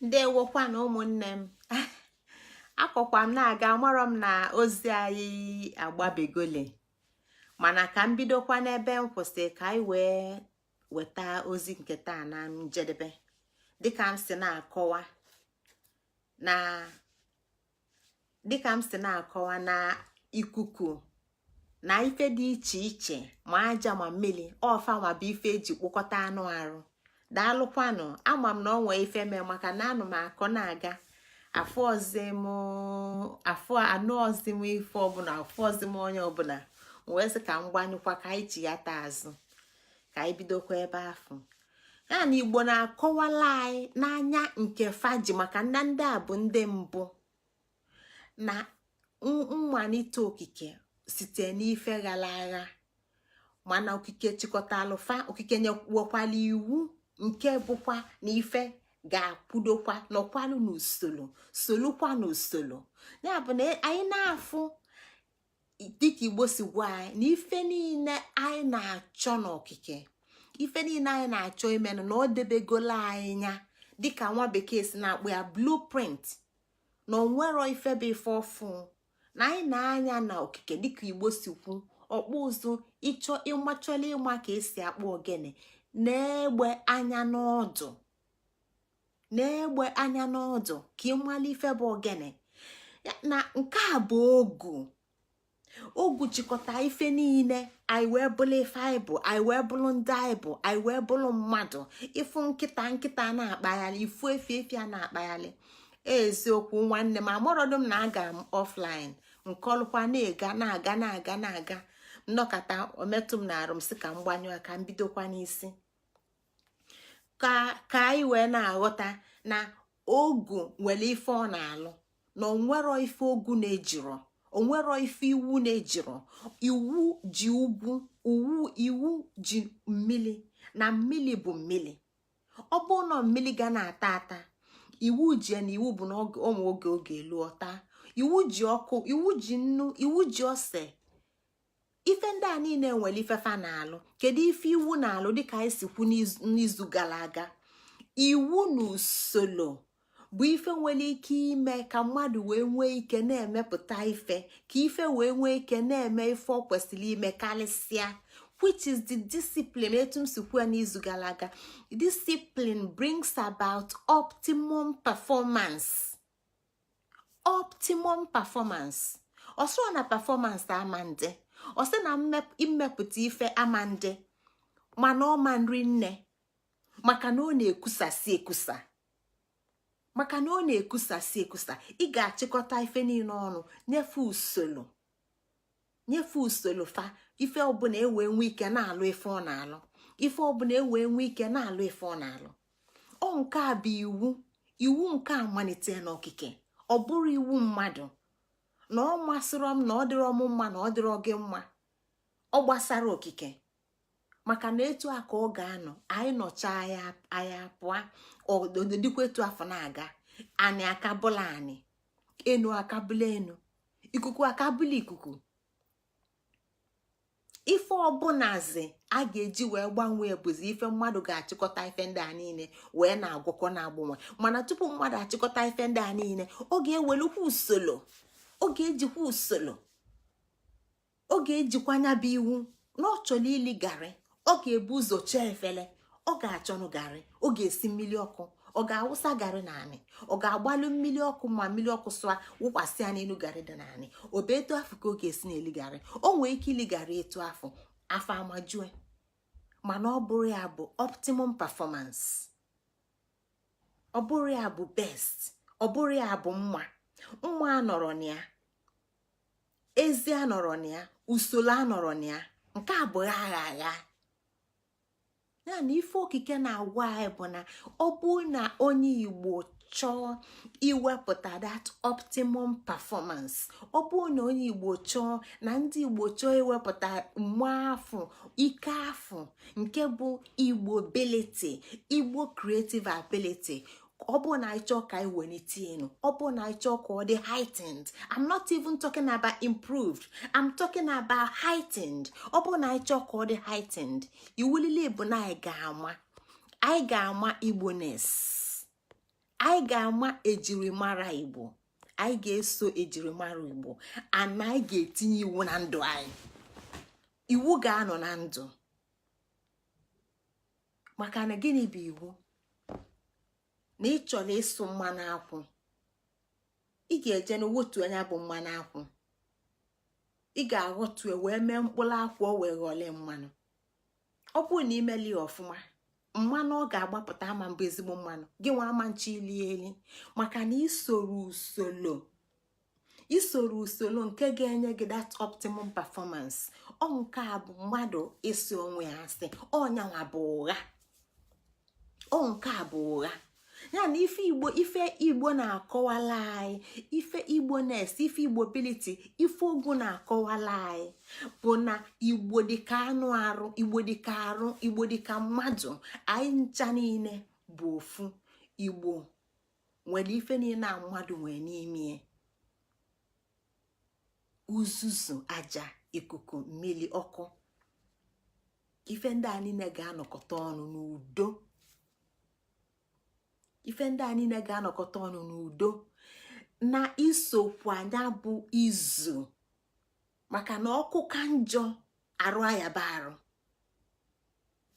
ndewokwa na ụmụnne m akọkwa m na-aga amarọ m na ozi anyị agbabegole mana ka m bidokwa n'ebe m kwụsị ka anyị wee weta ozi nke taa na njedebe dịka m si na-akọwa na dịka m si na-akọwa na ikuku na ife dị iche iche ma aja ma mmiri ọ fanwa bụ ife eji kpụkọta anụ arụ daalụkwanụ ama m na o nwee ife mee maka na anọ m akọ na-aga afụrọzi m afụ anụrọzi m ife ọbụna afụrọzi m onye ọbụna wee sị ka m gbanyụkwa ka anyị chighata azụ ka anyị bidokwa ebe afụ ya na igbo na-akọwalụ anyị na nya nke fa ji maka na ndị a bụ ndị mbụ na mmalite okike site n'ife ghara agha mana okike chịkọtalụ fa okike nyewekwalụ iwu nke bụkwa na ife ga-akwudokwa nọkwalụ n'usoro solukwa n'usoro ya bụ na anyị na-afụ dịka igbo si gwa anyị na ife niile anyị na-achọ n'okike ife niile anyị na-achọ imenụ na o debegolu anyị nya dịka nwa bekee si na-akpọ ya blueprint na onwero ife bụ ife ọfụụ na anyị na-anya na okike dịka igbo si kwu ọkpụ ụzụ ịchọ ịma chọla ịma ka esi akpụ ogene nee egbe anya n'ọdụ nee egbe anya n'ọdụ ka ị malụ ife bụ ogene na nke a bụ ogu ogu chịkọta ife niile anyị wee bụrụ ife anyị bụ anyị wee bụrụ ndị anyị bụ anyị wee bụrụ mmadụ ị fụ nkịta nkịta na-akpagharị ị fụ efi efi a na-akpagharị eziokwu nwanne m amarọdụ m na aga m offline m kọlụkwa na-aga na-aga na-aga na-aga m nọkata o metụ m n'arụ m sị ka m gbanyụọ ka m bidokwa n'isi ka ka anyị wee na-aghọta na ogu nwere ife ọ na-alụ na onwero ife ogu na-ejiro onwero ife iwu na-ejiro iwu ji ugwu iwu ji mmiri na mmiri bụ mmiri ọ bụrụ na mmiri ga na-ata ata iwu ji ya na iwu bụ na onwe oge ọ ga-elu ọ taa iwu ji ọkụ iwu ji nnu iwu ji ose ife ndị a niile nwere ife fa na-alụ kedu ife iwu na-alụ dịka anyị si kwu n'izu gara aga iwu na usoro bụ ife nwere ike ime ka mmadụ wee nwee ike na-emepụta ife ka ife wee nwee ike na-eme ife ọ kwesịrị ime karịsịa which is the discipline etu m si kwuo n'izu gara aga discipline brings about optimum performance optimum performance ọ sịrọ na performance ama ndị ọ sịrọ na mmepụta ife ama ndị mana ọ ma nri nne maka na ọ na-ekusasi ekusa maka na ọ na-ekusasi ekusa ị ga-achịkọta ife niile ọnụ nye fa usoro nye fa usoro fa ife ọbụla ewee nwee ike na-alụ ife ọ na-alụ ife ọbụla ewee nwee ike na-alụ ife ọ na-alụ ọ nke a bụ iwu iwu nke a malite n'okike ọ bụrọ iwu mmadụ na ọ masịrọ m na ọ dịrọ m mma na ọ dịrọ gị mma ọ gbasarọ okike maka na etu a ka ọ ga-anọ anyị nọcha anyị apụa ọ dịdịkwa etu afụ na-aga anị akabụla anị enu akabụla enu ikuku akabụla ikuku ife ọbụlazi a ga-eji wee gbanwee bụzi ife mmadụ ga-achịkọta ife ndị a niile wee na-agwọkọ na-agbanwe mana tupu mmadụ achịkọta ife ndị a niile ọ ga-ewelukwa usoro ọ ga-ejikwa usoro ọ ga-ejikwa nya bụ iwu na ọ chọrọ ili garị ọ ga-ebu ụzọ chọ efele ọ ga-achọnụ garị ọ ga-esi mmiri ọkụ ọ ga-awụsa garị n'anị ọ ga-agbalụ mmiri ọkụ ma mmiri ọkụ sụa wụkwasị ya n'elu garị dị n'anị ọ bụ etu afụ ka ọ ga-esi na-eli garị o nwee ike ili garị etu afụ afọ ejue mana ọ bụrọ ya bụ optimum performance ọ bụrọ ya bụ best ọ bụrọ ya bụ mma mma anọrọ na ya ezi anọrọ na ya usoro anọrọ na ya nke a bụ agha agha ya na ife okike na-agwa anyị bụ na ọ bụ na onye igbo chọọ iwepụta that optimum performance ọ bụ na onye igbo chọọ na ndị igbo chọọ iwepụta mma afụ ike afụ nke bụ igbo ability igbo creative ability ọ bụ na anyị chọọ ka anyị welite enu ọ bụ na anyị chọọ ka ọ dị heightened I'm not even talking about improved I'm talking about heightened ọ bụ na anyị chọọ ka ọ dị heightened iwu niile bụ na anyị ga-ama anyị ga-ama igboness anyị ga-ama ejirimara igbo anyị ga-eso ejirimara igbo and anyị ga-etinye iwu na ndụ anyị iwu ga-anọ na ndụ maka na gịnị bụ iwu na ị chọrọ ịsụ mmanụ akwụ ị ga-eje na wota nya bụ mmanụ akwụ ị ga-aghọta etu e wee mee mkpụrụ akwụ o wee ghọọlụ mmanụ ọ bụrụ na i merọ ya ọfụma mmanụ ọ ga-agbapụta ama mbụ ezigbo mmanụ gị nwa ama nchọ ili eli maka na i sorọ usoro isoro usoro nke ga-enye gị that optimum performance ọ nke a bụ mmadụ ịsị onwe ya asị ọ nyanwa bụ ụgha ọ nke a bụ ụgha ya na ife igbo ife igbo na-akọwala anyị ife igboness ife igbobility ife ogu na-akọwala anyị bụ na igbo dịka anụ arụ igbo dịka arụ igbo dịka mmadụ anyị ncha niile bụ ofu igbo nwere ife niile a mmadụ nwee n'ime uzuzu aja ikuku mmiri ọkụ ife ndị a niile ga-anọkọta ọnụ n'udo ife ndị a niile ga-anọkọta ọnụ n'udo na isokwa nya bụ izu maka na ọkụ ka njọ arụ ayaba arụ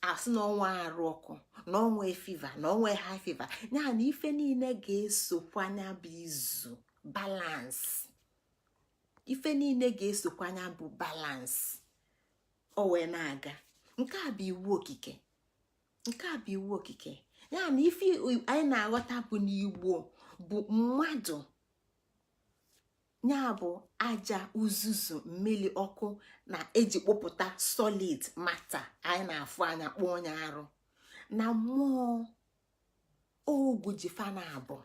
a sị na o nwe arụ ọkụ na o nwe fever na o nwe high fever ya na ife niile ga-esokwa nya bụ izu balance ife niile ga-esokwa nya bụ balance o wee na-aga nke a bụ iwu okike nke a bụ iwu okike ya na ife anyị na-aghọta bụ na igbo bụ mmadụ nya bụ aja uzuzu mmiri ọkụ na e ji kpụpụta solid matter anyị na-afụ anya kpọọ nya arụ na mmụọ ogu ji fa naabọ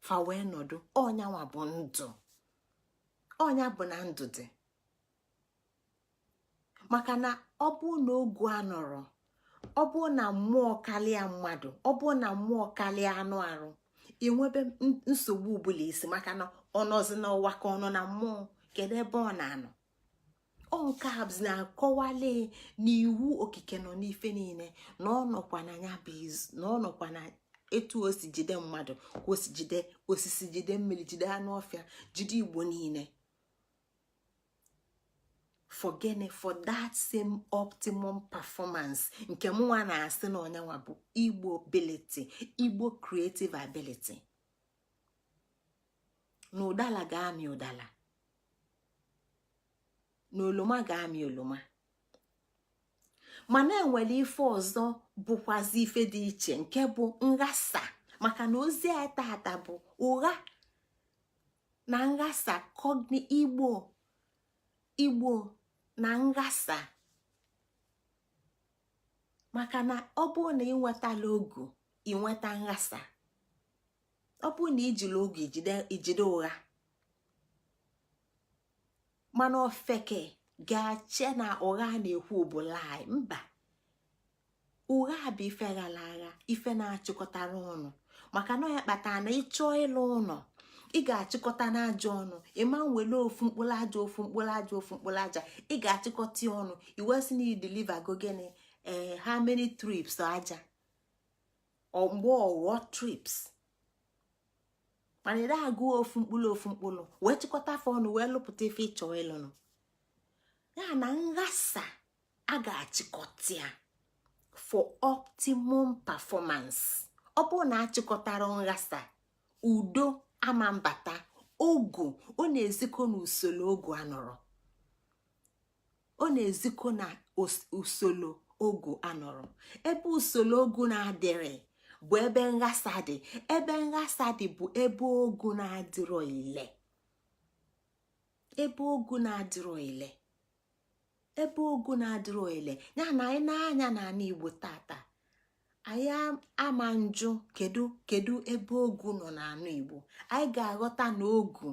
fa wee nọdụ ọ nyanwa bụ ndụ ọ nya bụ na ndụ dị maka na ọ bụ na ogu anọrọ ọ bụ na mmụọ karịa mmadụ ọ bụ na mmụọ karịa anụ arụ e nwebe nsogbu ụbụlụ isi maka na ọ nọzi n'ụwa ka ọ nọ na mmụọ kedu ebe ọ na-anọ ọ nke a na-akọwali na iwu okike nọ n'ife niile na ọ nọkwa na ya bụ izu na ọ nọkwa na etu o si jide mmadụ ka o si jide osisi jide mmiri jide anụ ọfịa jide igbo niile for gịnị for that same optimum performance nke mụnwa na-asị na ọ nyanwa bụ igbobility igbo creative ability na ụdala ga-amị ụdala na oloma ga-amị oloma mana e nwere ife ọzọ bụkwazi ife dị iche nke bụ nghasa maka na ozi a tata bụ ụgha na nghasa kọgni igbo igbo na nghasa maka na ọ bụ na i nwetala ogu i nweta nghasa ọ bụ na i jiri ogu i jide ụgha mana ofeke ga-ache na ụgha na-ekwu bụ lie mba ụgha bụ ife ghara agha ife na-achịkọtarọ ọnụ maka na ya kpatara na ịchọ ịlụ ụnọ ị ga-achịkọta aja ọnụ ịma nwere ofu mkpụrụ aja ofu mkpụrụ aja ofu mkpụrụ aja ị ga-achịkọta ya ọnụ e wee sị na e deliver go gịnị ee eh, how many trips aja mgbe ọ ghọ trips mana ị agụ ofu mkpụrụ ofu mkpụrụ wee chịkọta fa ọnụ wee lụpụta ife ị chọ ịlụnụ ya na nghasa a ga-achịkọta ya for optimum performance ọ bụrụ na achịkọtara nghasa udo ama mbata ogu ọ na-ezikọ na usoro ogu anọrọ ọ na-ezikọ na usoro ogu anọrọ ebe usoro ogu na-adịrọ bụ ebe nghasa dị ebe nghasa dị bụ ebe ogu na-adịrọ ile ebe ogu na-adịrọ ile ebe ogu na-adịrọ ile ya na anyị nee anya n'anị igbo tata anyị ama njụ kedu kedu ebe ogu nọ n'anị igbo anyị ga-aghọta na ogu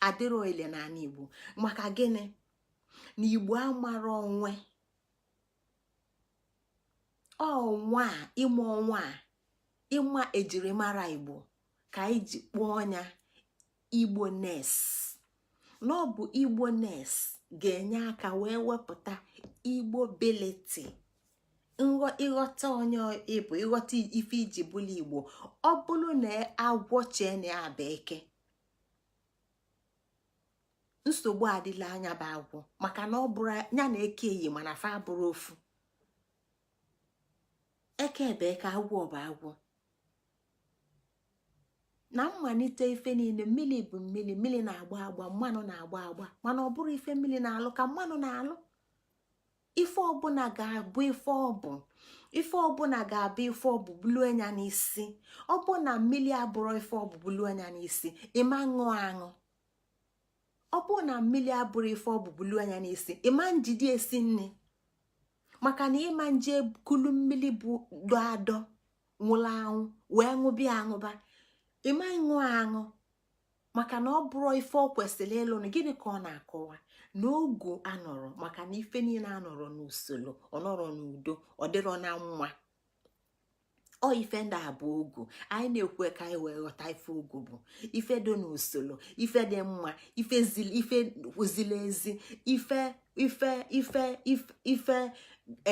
adịrọ ile n'anị igbo maka gịnị na igbo amarọ onwe onwe ya ịma onwe ya ịma ejirimara igbo ka anyị ji kpọọ nya igboness na ọ bụ igboness ga-enye aka wee wepụta igbobility ịghọta onye ị bụ ịghọta ife i ji bụlụ igbo ọ bụrụ na agwọ chee na ya bụ eke nsogbu adịla nya bụ agwọ maka na ọ bụrụ nya na eke eyi mana fa abụrọ ofu eke bụ eke agwọ bụ agwọ na mmalite ife niine mmiri bụ mmiri mmiri na-agba agba mmanụ na-agba agba mana ọ bụrọ ife mmiri na-alụ ka mmanụ na-alụ ife ọbụna ga-abụ ife ọ bụ ife ọbụna ga-abụ ife ọ bụ bulu anya n'isi ọ bụ na mmiri abụrọ ife ọ bụ bulu anya n'isi ịma ṅụ aṅụ ọ bụrụ na mmiri abụrọ ife ọ bụ bulu anya n'isi ịma njide esi nni maka na ịma nje kulu mmiri dọ adọ nwụrụ anwụ wee ṅụba ya aṅụba ịma ịṅụ aṅụ maka na ọ bụrọ ife o kwesịrị ịlụ na gịnị ka ọ na-akọwa na ogu anọrọ maka na ife niile anọrọ n'usoro ọ nọrọ n'udo ọ dịrọ na nwa ọ ife ndị a bụ ogu anyị na-ekwu ka anyị wee ghọta ife ogu bụ ife dị n'usoro ife dị mma ife zili ezi ife ife ife ife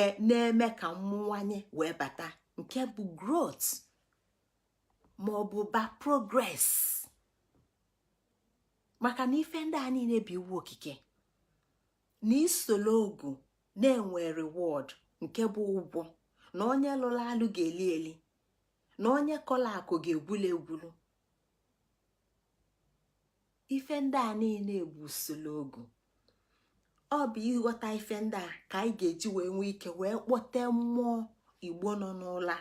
e, na-eme ka mmụwanye wee bata nke bụ growth ma ọ bụ ba progress maka na ife ndị a niine bụ iwu okike na isolo ogu na-enwe reward nke bụ ụgwọ na onye lụla alụ ga-eli eli na onye kọla akọ ga-egwulu egwulu ife ndị a niile bụ usolo ogu ọ bụ ịghọta ife ndị a ka anyị ga-eji wee nwee ike wee kpọte mmụọ igbo nọ n'ụla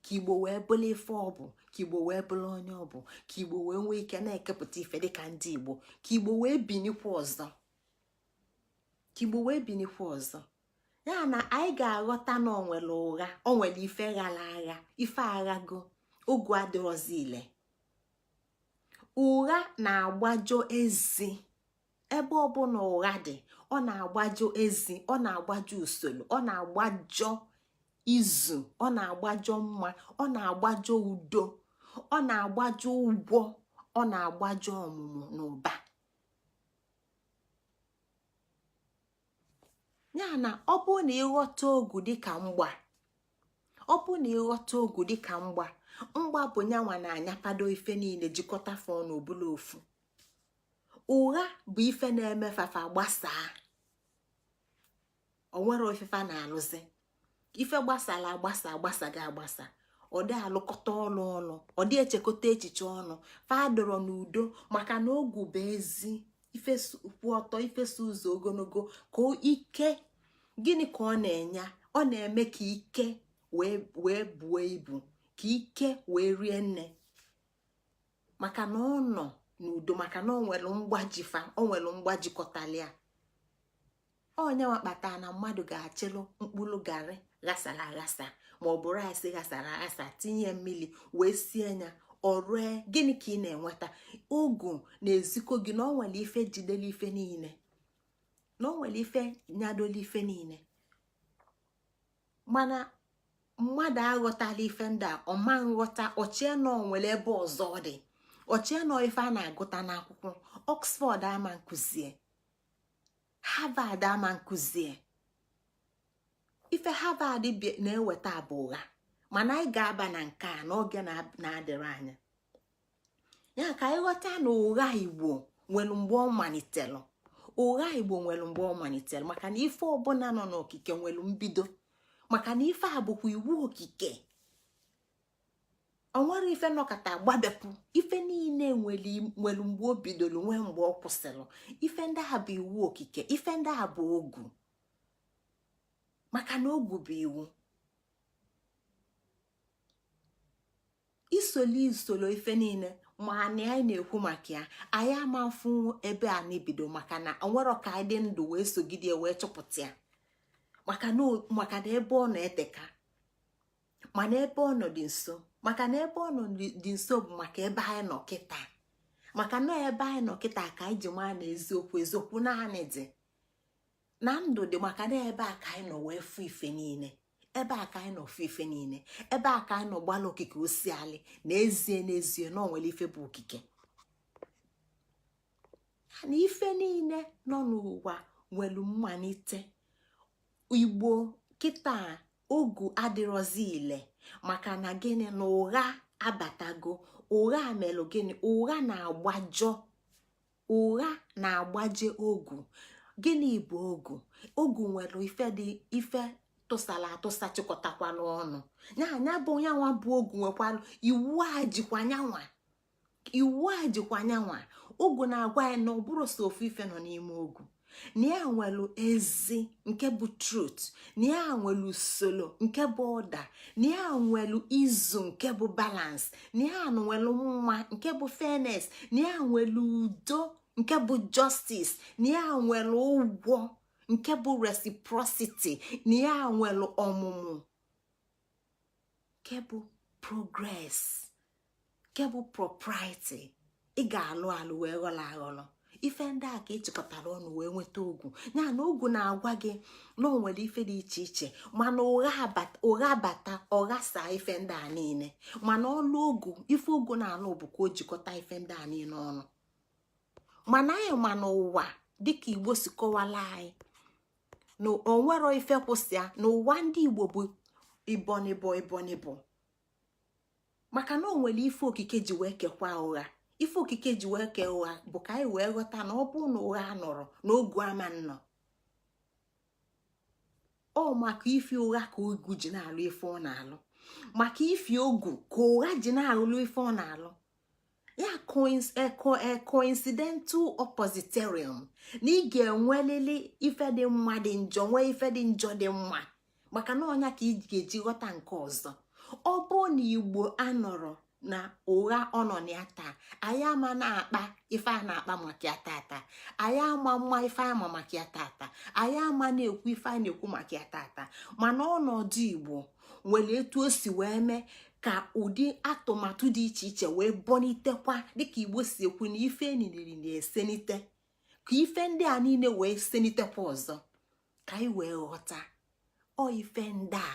ka igbo wee bụrụ ife ọ bụ ka igbo wee bụrụ onye ọ bụ ka igbo wee nwee ike na-ekepụta ife dịka ndị igbo ka igbo wee binikwa ọzọ ka igbo wee binikwa ọzọ ya na anyị ga-aghọta na onwere ụgha onwere ife ghala agha ife aghago ogu adịrọzi ile ụgha na-agbajọ ezi ebe ọbụla ụgha dị ọ na-agbajọ ezi ọ na-agbajọ usolo ọ na-agbajọ izu ọ na-agbajọ mma ọ na-agbajọ udo ọ na-agbajọ ụgwọ ọ na-agbajọ ọmụmụ na ụba ya na ọ bụ na ịghọta ogu dịka mgba ọ bụ na ịghọta ogu dịka mgba mgba bụ nya nwa na-anyapado ife niile jikọta fa ọnụ ọ bụlụ ofu ụgha bụ ife na-eme fa fa gbasaa onwerọ ife fa na-alụzi ife gbasara agbasa agbasago agbasa ọdị alụkọta ọlụ ọnụ ọdị echekọta echiche ọnụ fa adịrọ n'udo maka na ogu bụ ezi ife kwụ ọtọ ife so ụzọ ogologo ka ike gịnị ka ọ na-enye ọ na-eme ka ike wee buo ibu ka ike wee rie nne maka na ọ nọ n'udo maka na ọ nwere mgba ji fa ọ nwere mgba jikọtala ya ọ nya nwa kpata na mmadụ ga-achịlụ mkpụrụ garị ghasara aghasa ma ọ bụ rice ghasara aghasa tinye mmiri wee sie ya o rue gịnị ka ị na-enweta ogu na-ezikọ gị na ọ nwere ife jidere ife niile na ọ nwere ife nyadoro ife niile mana mmadụ aghọtala ife ndị a ọ ma nghọta o chee na onwere ebe ọzọ dị o chee na ọ ife a na-agụta n'akwụkwọ Oxford ama nkuzie Harvard ama nkuzie ife Harvard na-eweta bụ ụgha mana anyị ga-aba na nke a n'oge na-adịrọ anya ya ka anyị ghọta na ụgha Igbo nwere mgbe ọ malitelụ ụgha Igbo nwere mgbe ọ malitelụ maka na ife ọbụla nọ n'okike nwere mbido maka na ife a bụkwa iwu okike onwero ife nọkata gbadepụ ife niile nwere mgbe o bidoro nwee mgbe ọ kwụsịrị ife ndị a bụ iwu okike ife ndị a bụ ogu maka na ogu bụ iwu isoli isolo ife niile ma anyị anyị na-ekwu maka ya anyị ama mfụ ebe a na-ebido maka na onwero ka anyị dị ndụ wee sogide wee chọpụta ya maka na ebe ọ nọ eteka mana ebe ọ nọ dị nso maka na ebe ọ nọ dị nso bụ maka ebe anyị nọ kịta maka na ebe anyị nọ kịta ka anyị ji maa na eziokwu eziokwu na anyị dị na ndụ dị maka na ebe a ka anyị nọ wee fụ ife niile ebe a ka anyị nọ fụ ife niile ebe a ka anyị nọ gbalụ okike osiali na ezie n'ezie na o nwere ife bụ okike na ife niile nọ n'ụwa nwere mmalite igbo kịta ogu adịrọzi ile maka na gịnị na ụgha abatago ụgha melụ gịnị ụgha na-agbajọ ụgha na-agbaje ogu gịnị bụ ogu ogu nwere ife dị ife tụsara atụsa chịkọtakwa n'ọnụ ya bụ nyanwa bụ ogu nwekwalụ iwu a jikwa nyanwa iwu a jikwa nyanwa ogu na-agwa ya na ọ bụrọ sọ ofu ife nọ n'ime ogu na ya nwelu ezi nke bụ truth na ya nwelu usoro nke bụ order na ya nwelu izu nke bụ balance na ya nwelu mma nke bụ fairness na ya nwelu udo nke bụ justice na ya nwelu ụgwọ nke bụ reciprocity na ya nwelu ọmụmụ nke bụ progress nke bụ propriety ị ga-alụ alụ wee ghọrọ aghọrọ ife ndị a ka ị chịkọtara ọnụ wee nweta ogu ya na ogu na-agwa gị na o nwere ife dị iche iche mana ụgha bata ọ ghasa ife ndị a niile mana ọlụ ogu ife ogu na-alụ bụ ka o jikọta ife ndị a niile ọnụ mana anyị ma na ụwa dịka igbo si kọwalụ anyị na onwero ife kwụ sọ ya na ụwa ndị igbo bụ ịbọ n'ịbọ ịbọ n'ịbọ maka na o nwere ife okike ji wee kekwa ụgha ife okike ji wee kee ụgha bụ ka anyị wee ghọta na ọ bụ na ụgha anọrọ na ogu ama nnọ ọ maka ife ụgha ka ogu ji na-alụ ife ọ na-alụ maka ife ogu ka ụgha ji na-alụ ife ọ na-alụ ya coincidental oppositorium na ị ga-enwelili ife dị mma dị njọ nwee ife dị njọ dị mma maka na ọ nya ka ị ga-eji ghọta nke ọzọ ọ bụ na igbo anọrọ na ụgha ọ nọ na ya taa anyị ama na-akpa ife a na-akpa maka ya tata anyị ama mma ife anyị ma maka ya tata anyị ama na-ekwu ife anyị na-ekwu maka ya tata mana ọnọdụ igbo nwere etu o si wee mee ka ụdị atụmatụ dị iche iche wee bọnitekwa dịka igbo si ekwu na ife eniriri na-esenite ka ife ndị a niine wee senitekwa ọzọ ka anyị wee ghọta ọ ife ndị a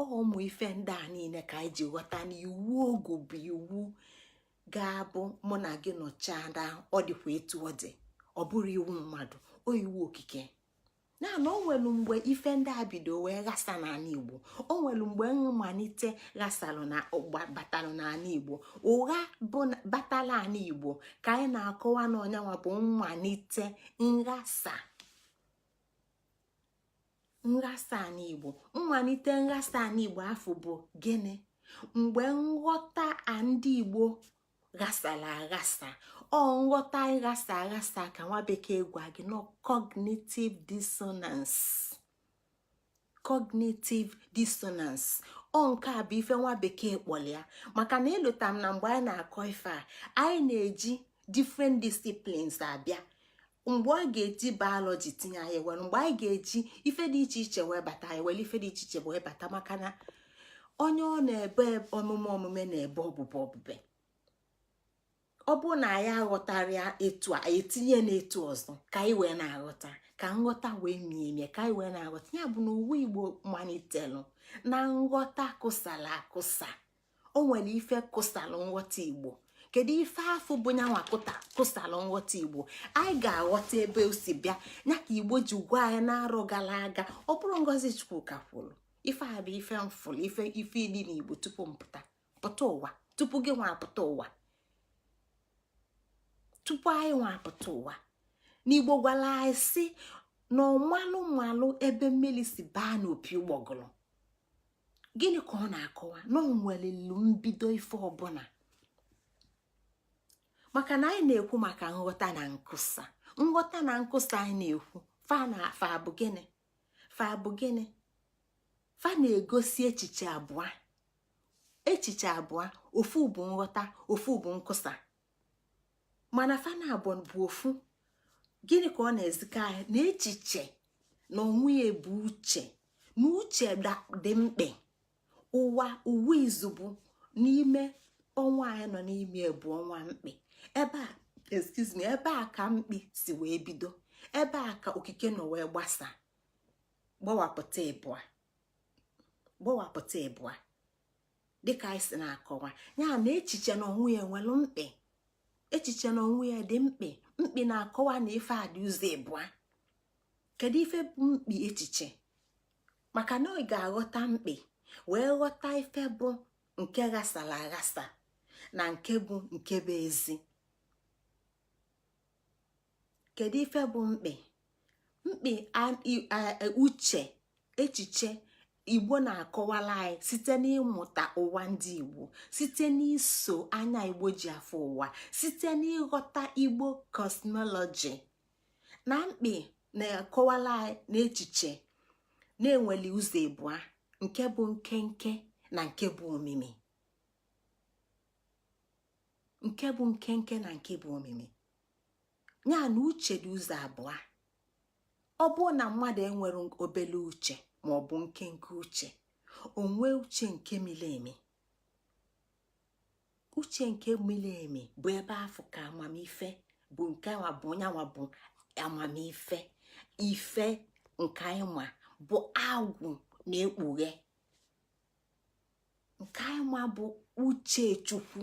ọ ụmụ ife ndị a niine ka anyị ji ghọta na iwu ogu bụ iwu ga-abụ mụ na gị nọchaa ọ dịkwa etu ọ dị ọ bụrọ iwu mmadụ ọ iwu okike na na o nwelu mgbe ife ndị a bido wee ghasa n'anị igbo o nwelu mgbe mmanite ghasalụ na batalụ n'anị igbo ụgha bụ batalụ anị igbo ka anyị na-akọwa na ọ nyanwa bụ mmanite nghasa nghasa anị igbo mmanite nghasa anị igbo afụ bụ gịnị mgbe nghọta ndị igbo ghasalụ aghasa ọ nghọta ịghasa aghasa ka nwa bekee gwa gị na ọ cognitive dissonance cognitive dissonance ọ nke a bụ ife nwa bekee kpọlụ ya maka na elota m na mgbe anyị na-akọ ife a anyị na-eji different disciplines abịa mgbe anyị ga-eji biology tinye anyị were mgbe anyị ga-eji ife dị iche iche wee bata anyị were ife dị iche iche wee bata maka na onye ọ na-eme omume omume na-ebe obube obube ọ bụ na anyị aghọtarọ ya etu a e tinye n'etu ọzọ ka anyị wee na-aghọta ka nghọta wee mie emie ka anyị wee na-aghọta ya bụ na ụwa igbo manitelụ na nghọta kụsalụ akụsa o nwere ife kụsalụ nghọta igbo kedu ife afụ bụ nyanwa kụta kụsalụ nghọta igbo anyị ga-aghọta ebe o si bịa ya ka igbo ji gwa anyị n'arọ gara aga ọ bụrụ ngozi chukwuka kwuru ife a bụ ife m fụlụ ife ife ịdị n'igbo tupu m pụta pụta ụwa tupu gị nwa apụta ụwa tupu anyị nwa apụta ụwa na igbo gwalụ anyị si na ọ malụ malụ ebe mmiri si baa n'opi ụgbọgụlụ gịnị ka ọ na-akọwa na o nwelili mbido ife ọbụna maka na anyị na-ekwu maka nghọta na nkụsa nghọta na nkụsa anyị na-ekwu fa na fa bụ gịnị fa bụ gịnị fa na-egosi echiche abụa echiche abụa ofu bụ nghọta ofu bụ nkụsa mana fa naabọ bụ ofu gịnị ka ọ na-ezikọ anyị na echiche na onwe ya bụ uche na uche dị mkpi ụwa ụwa izugbe n'ime ọnwa anyị nọ n'ime bụ ọnwa mkpi ebe a excuse me ebe a ka mkpi si wee bido ebe a ka okike nọ wee gbasa gbawapụta ịbụa gbawapụta ịbụa dịka anyị si na-akọwa ya na echiche na onwe ya nwelụ mkpị echiche na onwe ya dị mkpị mkpị na-akọwa na ife a dị ụzọ ịbụa kedu ife bụ mkpị echiche maka na ị ga-aghọta mkpị wee ghọta ife bụ nke ghasara aghasa na nke bụ nke bụ ezi kedu ife bụ mkpị mkpị uche echiche igbo na-akọwala anyị site n'ịmụta ụwa ndị igbo site n'iso anya igbo ji afụ ụwa site n'ịghọta igbo cosmology na mkpị na-akọwala anyị na echiche na-enweli ụzọ ịbụa nke bụ nkenke na nke bụ omimi nke bụ nkenke na nke bụ omimi nya na uche dị ụzọ abụa ọ bụrụ na mmadụ enwere obele uche ma ọ bụ nkenke uche o nwee uche nke mili emi uche nke mili emi bụ ebe afụ ka amamife bụ nke nwa bụ nyanwa bụ amamife ife nke anyị ma bụ agwụ na-ekpughe nke anyị ma bụ uche chukwu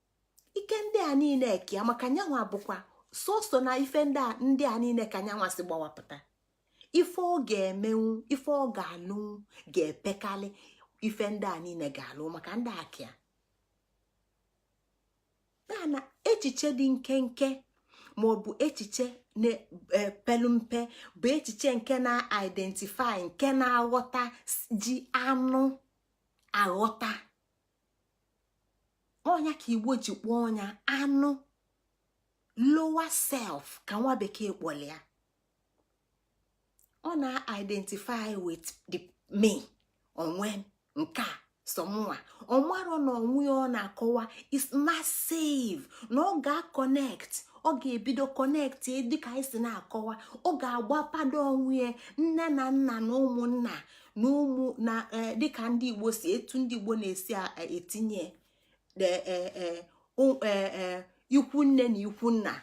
ike ndị a niine eke ya maka nyanwa bụkwa soso na ife ndị a niine ka nyanwa si gbawapụta ife ọ ga-emenwu ife ọ ga-alụnwu ga-epekalị ife ndị a niine ga-alụ maka ndị a ka ya na echiche dị nkenke ma ọ bụ echiche na-epelu mpe bụ echiche nke na-identify nke na-aghọta ji anụ aghọta ọ nya ka igbo ji kpọọ nya anụ lower self ka nwa bekee kpọlụ ya ọ na-identify with the me onwe m nke a sọ mụnwa ọ marọ na onwe ya ọ na-akọwa is massive na ọ ga-connect ọ ga-ebido kọnekt dịka anyị si na-akọwa ọ ga-agbapado onwe ya nne na nna na ụmụnna na ụmụ na e, dịka ndị igbo si etu ndị igbo na-esi e, etinye e, ikwu nne na ikwu nna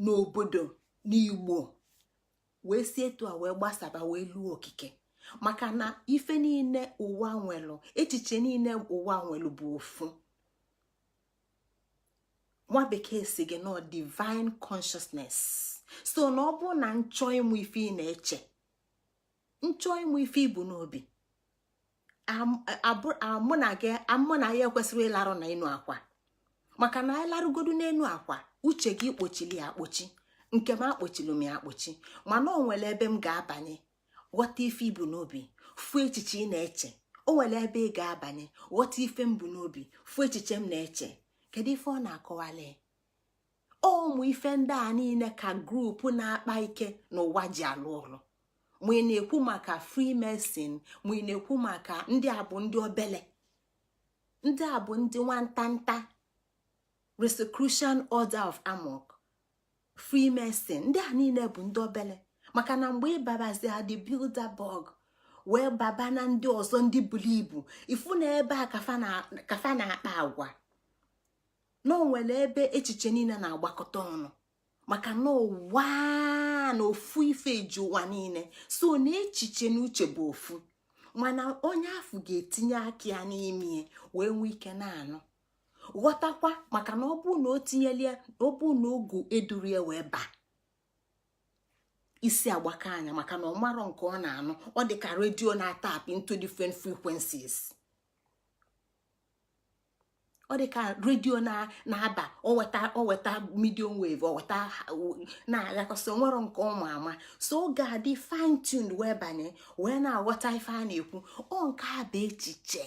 na obodo n'igbo wee si etu a wee gbasaba wee luo okike maka na ife niine ụwa nwelụ echiche niine ụwa nwelụ bụ ofu nwa bekee asị gị na ọ divine consciousness so na ọ bụrụ na m chọọ ịmụ ife ị na-eche m chọọ ịmụ ife i bu n'obi mụ na gị mụ na ya ekwesịrọ ịlarụ n'enu akwa maka na anyị larụgodu n'enu akwa uche gị i kpochili ya akpochi nke m akpochili m ya akpochi mana o nwere ebe m ga-abanye ghọta ife i bu n'obi fụ echiche ị na-eche o nwere ebe ị ga-abanye ghọta ife m bu n'obi fụ echiche m na-eche kedu ife ọ na-akọwali ụmụ ife ndị a niile ka group na-akpa ike n'ụwa ji alụ ọlụ ma ị na-ekwu maka freemason ma ị na-ekwu maka ndị a bụ ndị obele ndị a bụ ndị nwantanta Rosicrucian Order of AMORC freemason ndị a niile bụ ndị obele maka na mgbe ị babazi na ndị Bilderberg wee baba na ndị ọzọ ndị buru ibu ị fụ na ebe a ka fa na-akpa agwa na o nwere ebe echiche niile na-agbakọta ọnụ maka na ụwa na ofu ife ji ụwa niile so na echiche na uche bụ ofu mana onye afụ ga-etinye aka ya n'ime wee nwee ike na-anụ ghọtakwa maka na ọ bụ na o tinyela ya ọ bụ na ọgwụ duru ya wee baa isi agbaka nya maka na ọ marọ nke ọ na-anụ ọ dị ka radio na-atap into different frequencies ọ dị ka radio na-aba o weta o weta medium wave o weta na-agakọsị o nwerọ nke ọ ma ama so ọ ga-adị fine tuned wee banye wee na-aghọta ife a na-ekwu ọ nke a bụ echiche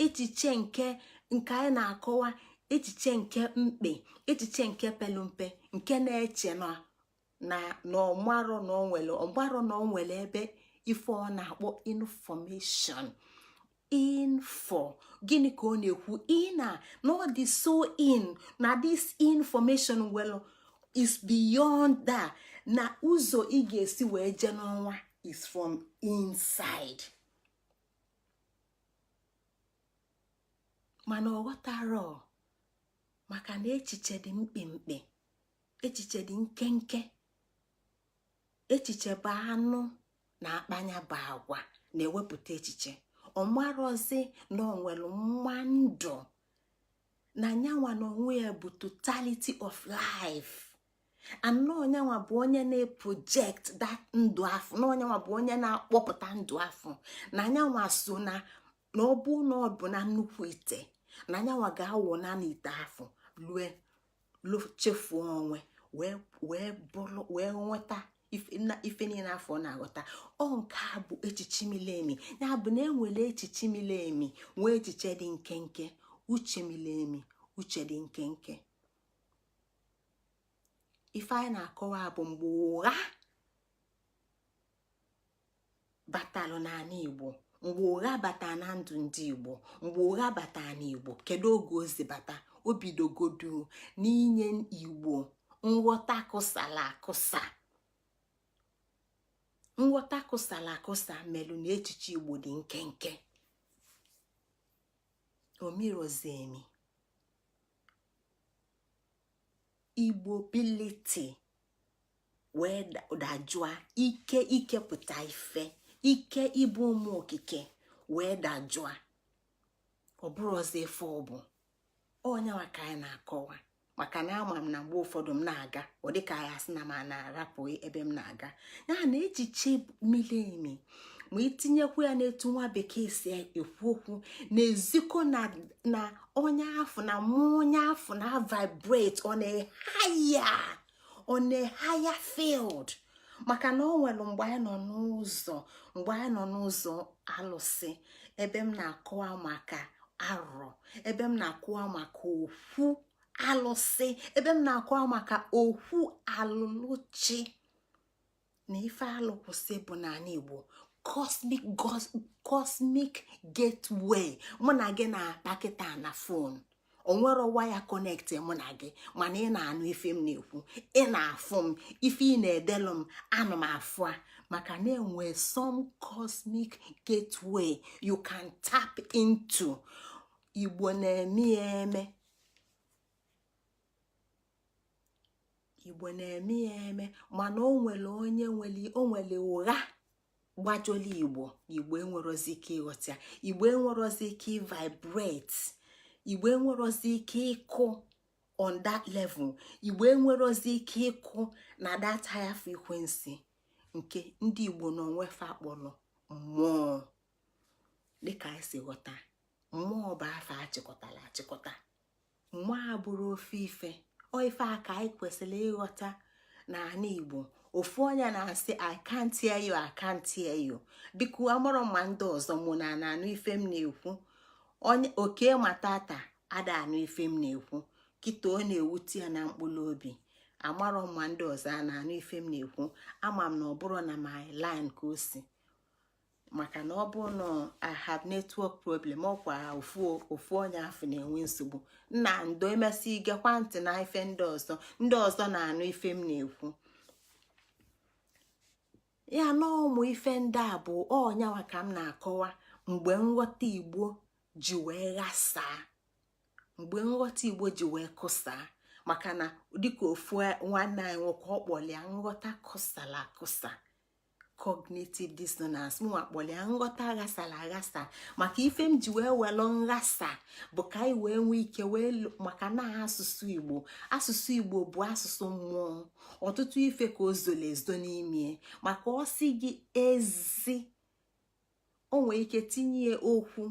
echiche nke nke anyị na-akọwa echiche nke mkpe echiche nke pelu mpe nke na-eche na na na ọ marọ na o nwere ọ marọ na o nwere ebe ife ọ na-akpọ information info gịnị ka ọ na-ekwu in na ọ dị so in na this information well is beyond that na ụzọ ị ga-esi wee jee n'ọnwa is from inside mana ọ ghọtarọ maka na echiche dị mkpimkpi echiche dị nkenke echiche bụ anụ na-akpa nya bụ agwa na-ewepụta echiche ọ marọzi na o nwere mma ndụ na nyanwa na onwe ya bụ totality of life and na ọ nyanwa bụ onye na-eproject that ndụ afụ na ọ nyanwa bụ onye na-akpọpụta ndụ afụ na nyanwa so na na ọ bụ na ọ bụ na nnukwu ite na nyanwa ga-awụna n'ite afụ lue chefuo onwe wee bụrụ wee nweta ife niile afụ na-aghọta ọ nke a bụ echiche miri emi ya bụ na e nwere echiche miri emi nwee echiche dị nkenke uche miri emi uche dị nkenke ife anyị na-akọwa bụ mgbe ụgha batalụ n'anị igbo mgbe ụgha bata na ndụ ndị igbo mgbe ụgha bata n'igbo kedu oge ozi bata o bidogodu n'inye igbo nghọta kụsala akụsa nghọta kụsala akụsa melụ na echiche igbo dị nkenke o mirozi emi igbo ability wee dajụa ike ikepụta ife ike ịbụ ụmụ okike wee dajụa ọ bụrọzị ife ọ bụ ọ ya nwa ka anyị na-akọwa maka na ama m na mgbe ụfọdụ m na-aga ọ dịka anyị asị na m na-arapụ ebe m na-aga ya na echiche mili emi ma itinyekwu ya n'etu nwa bekee si ekwu okwu na-ezikọ na onye afụ na mụ onye afụ na-avibrate on a higher on a higher field maka na ọ nwere mgbe anyị nọ n'ụzọ mgbe anyị nọ n'ụzọ alụsị ebe m na-akọwa maka arọ ebe m na-akọwa maka okwu alụsị ebe m na-akọwa maka okwu alụlụchi na ife alụ kwụsị bụ n'anị igbo cosmic cosmic gateway mụ na gị na-akpa kịta na fon o nwerọ waya kọnekti mụ na gị mana ị na-anụ ife m na-ekwu ị na-afụ m ife ị na-edelụ m ana m afụ ya maka na enwe some cosmic gateway you can tap into igbo na-eme eme igbo na-eme ya eme mana o nwere onye o nwere ụgha gbajọlụ igbo igbo enwerozi ike ịghọta igbo enwerozi ike ịvibrate igbo enwerozi ike ịkụ on that level igbo enwerozi ike ịkụ na that higher frequency nke ndị igbo na onwe fa kpọlọ mmụọ dịka anyị si ghọta mmụọ bụ afọ achịkọtalụ achịkọta mma abụrụ ofe ife ọ ife a ka anyị kwesịrị ịghọta na anị igbo ofu onye na-asị i can't hear you i can't hear you biko amarọ m ma ndị ọzọ ma a na-anụ ife m na-ekwu onye oke ma tata ada anụ ife m na-ekwu kịta ọ na-ewute ya na mkpụrụ obi amarọ ma ndị ọzọ a na-anụ ife m na-ekwu ama m na ọ bụrọ na my line ka o si maka na ọ bụ na I have network problem ọkwa ofu ofu onye afụ na-enwe nsogbu nna ndo emesịa ị gekwa ntị na ife ndị ọzọ ndị ọzọ na-anụ ife m na-ekwu ya na ụmụ ife ndị a bụ ọ ya nwa ka m na-akọwa mgbe nghọta igbo ji wee ghasaa mgbe nghọta igbo ji wee kụsaa maka na dịka ofu nwanne anyị nwoke ọ kpọlụ ya nghọta kụsala akụsa cognitive dissonance mụnwa kpọlụ ya nghọta ghasala aghasa maka ife m ji wee welụ nghasa bụ ka anyị wee nwee ike wee maka na asụsụ igbo asụsụ igbo bụ asụsụ mmụọ ọtụtụ ife ka o zolu ezo n'ime ya maka ọ sị gị ezi o nwee ike tinye okwu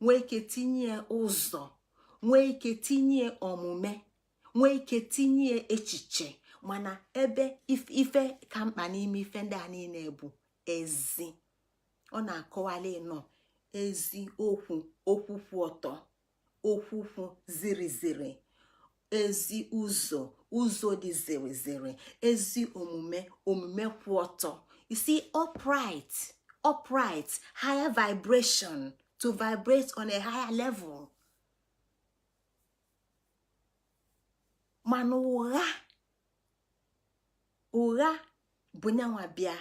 nwee ike tinye ụzọ nwee ike tinye omume nwee ike tinye echiche mana ebe ife ka mkpa n'ime ife ndị a niine bụ ezi ọ na-akọwali nọ ezi okwu okwu kwụ ọtọ okwu kwụ ziri ziri ezi ụzọ ụzọ dị ziri ziri ezi omume omume kwụ ọtọ isi upright upright higher vibration to vibrate on a higher level mana ụgha ụgha bụ nyanwa bịa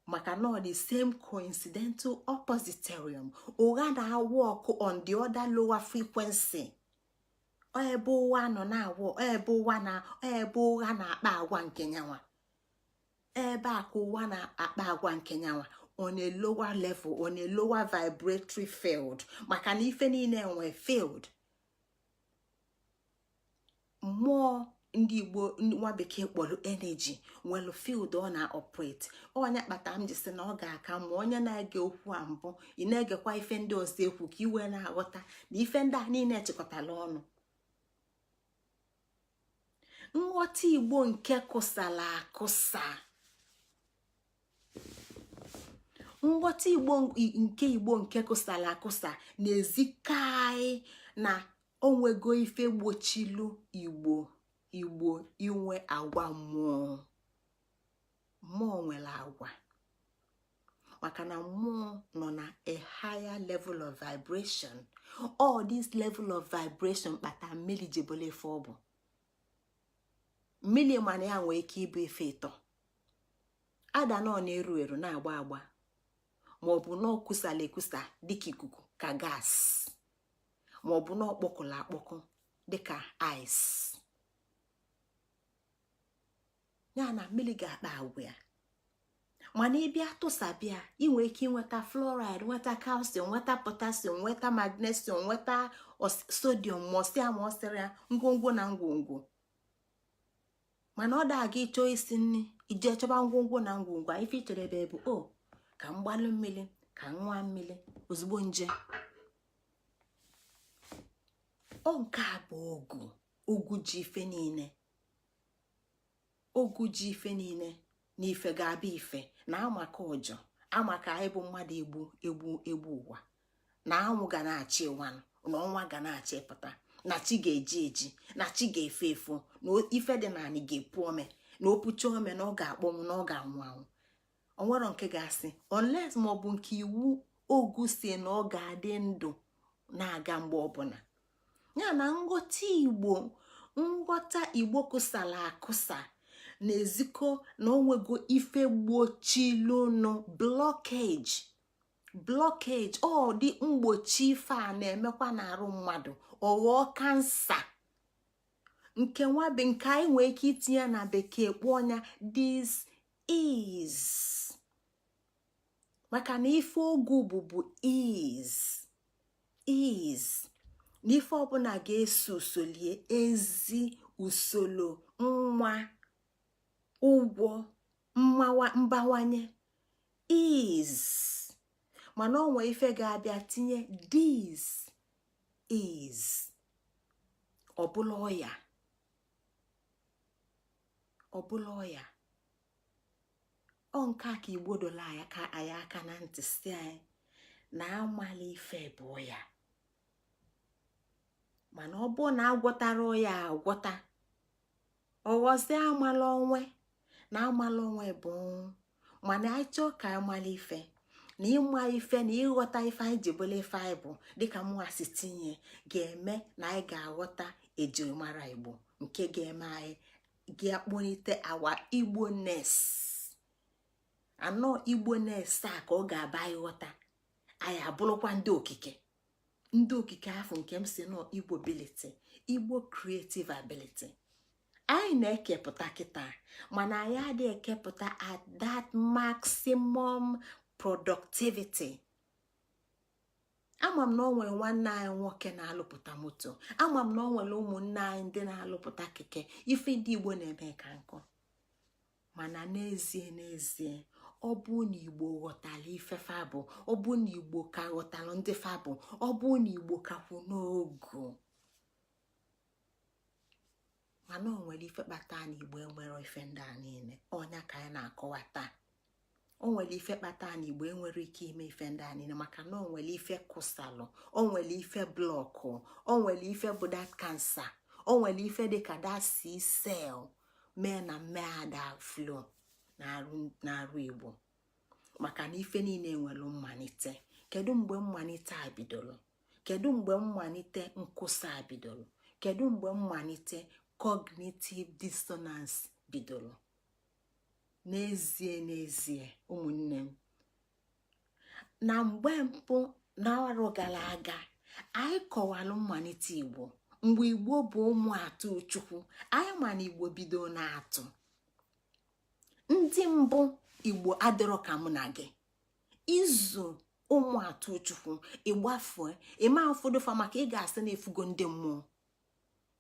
maka na ọ the same coincidental oppositorium ụgha na-work on the other lower frequency ebe ụwa nọ na-awụ ebe ụwa na ebe ụgha na-akpa agwa nke nyanwa ebe a ka ụwa na-akpa agwa nke nyanwa on a lower level on a lower vibratory field maka na ife niine nwee field mmụọ ndị igbo nwa bekee kpọlụ energy nwela field ọ na-operate ọ nya kpata m ji sị na ọ ga-aka mma onye na-ege okwu a mbụ ị na-egekwa ife ndị ọzọ ekwu ka i wee na-aghọta na ife ndị a niine chịkọtala ọnụ nghọta igbo nke kụsala akụsa nghọta nke igbo nke kụsala akụsa na-ezikwa anyị na o nwego ife gbochilu igbo igbo inwe agwa mmụọ mmụọ nwela agwa maka na mmụọ nọ na a higher level of vibration ọ this level of vibration kpata mmili ji bụlụ ife ọ bụ mmili mana ya nwee ike ịbụ ife ịtọ either na ọ na-eru eru na-agba agba ma ọ bụ na ọ kụsala akụsa dịka ikuku ka gas ma ọ bụ na ọ kpọkụla akpọkụ dịka ice ya na mmili ga-akpa agwa ya mana ị bịa tụsaba ya i nwee ike nweta fluoride nweta calcium nweta potassium nweta magnesium nweta sodium mọsịa ma ọsịrị ya ngwongwo na ngwongwo mana ọ da aga ịchọ isi nri i jee chọba ngwongwo na ngwongwo ife i chere ebe bụ o ka m gbalụ mmili ka m ṅụa mmili ozugbo nje ọ nke a bụ ogu ogu ji ife niine ogu ji ife niile na ife ga-abịa ife na amaka ụjọ amaka anyị bụ mmadụ egbu egbu egbu ụwa na anwụ ga na-achị ụwa na ọnwa ga na-achịpụta na chi ga-eji eji na chi ga-efo efo na ife dị n'anị ga-epu ome na o pucha ome na ọ ga-akpọnwụ na ọ ga-anwụ anwụ o nwerọ nke ga-asị unless ma ọ bụ nke iwu ogu sị na ọ ga-adị ndụ na-aga mgbe ọbụna ya na nghọta igbo nghọta igbo kụsara akụsa na-ezikọ na o nwego ife gbochilụnụ blockage blockage ọ dị mgbochi ife a na-emekwa n'arụ mmadụ ọ ghọọ kansa nke nwa nke anyị nwee ike itinye na bekee kpọọ nya dis ease maka na ife ogu bụ bụ ease ease na ife ọbụla ga-eso usolie ezi usoro nwa ụgwọ mbawanye ease mana o nwee ife ga-abịa tinye dis ease ọ bụlụ ọya ọ bụlụ ọya ọ nke a ka igbo dọlụ anyị ka anyị aka na ntị sị anyị na amala ife bụ ọya mana ọ bụ na a gwọtara ọya agwọta ọ ghọzie amala onwe na amala onwe bụ mana anyị chọọ ka anyị mara ife na ịma ife na ịghọta ife anyị ji bụlụ ife anyị bụ dịka mụnwa si tinye ga-eme na anyị ga-aghọta ejirimara igbo nke ga-eme anyị ga-akpọnite our igboness our igboness a ka ọ ga-abụ anyị ghọta anyị abụrụkwa ndị okike ndị okike afụ nke m sị na ọ igbo ability igbo creative ability anyị na-ekepụta kịta mana anyị adị ekepụta at that maximum productivity ama m na o nwere nwanne anyị nwoke na-alụpụta moto ama m na o nwere ụmụnne anyị ndị na-alụpụta keke ife ndị igbo na-eme ka nkụ mana n'ezie n'ezie ọ bụ na igbo ghọtara ife fa bụ ọ bụ na igbo ka ghọtara ndị fa bụ ọ bụ na igbo ka kwụ n'ogu mana o nwere ife kpata na igbo enwerọ ife ndị a niile ọ nya ka anyị na-akọwa taa o nwere ife kpata na igbo enwerọ ike ime ife ndị a niile maka na o nwere ife kụsalụ o nwere ife blọkụ o nwere ife bụ that cancer o nwere ife dịka that sickle cell mee na mmee ada flow n'arụ igbo maka na ife niile nwere mmalite kedu mgbe mmalite a bidoro kedu mgbe mmalite nkwụsị a bidoro kedu mgbe mmalite cognitive dissonance bidoro n'ezie n'ezie ụmụnne m na mgbe mbụ na arọ gara aga anyị kọwalụ mmalite igbo mgbe igbo bụ ụmụ atụ chukwu anyị ma na igbo bido n'atụ ndị mbụ igbo adịrọ ka mụ na gị i zu ụmụ atụ chukwu ị gbafue ịma ụfọdụ fa maka ị ga-asị na ị fụgo ndị mmụọ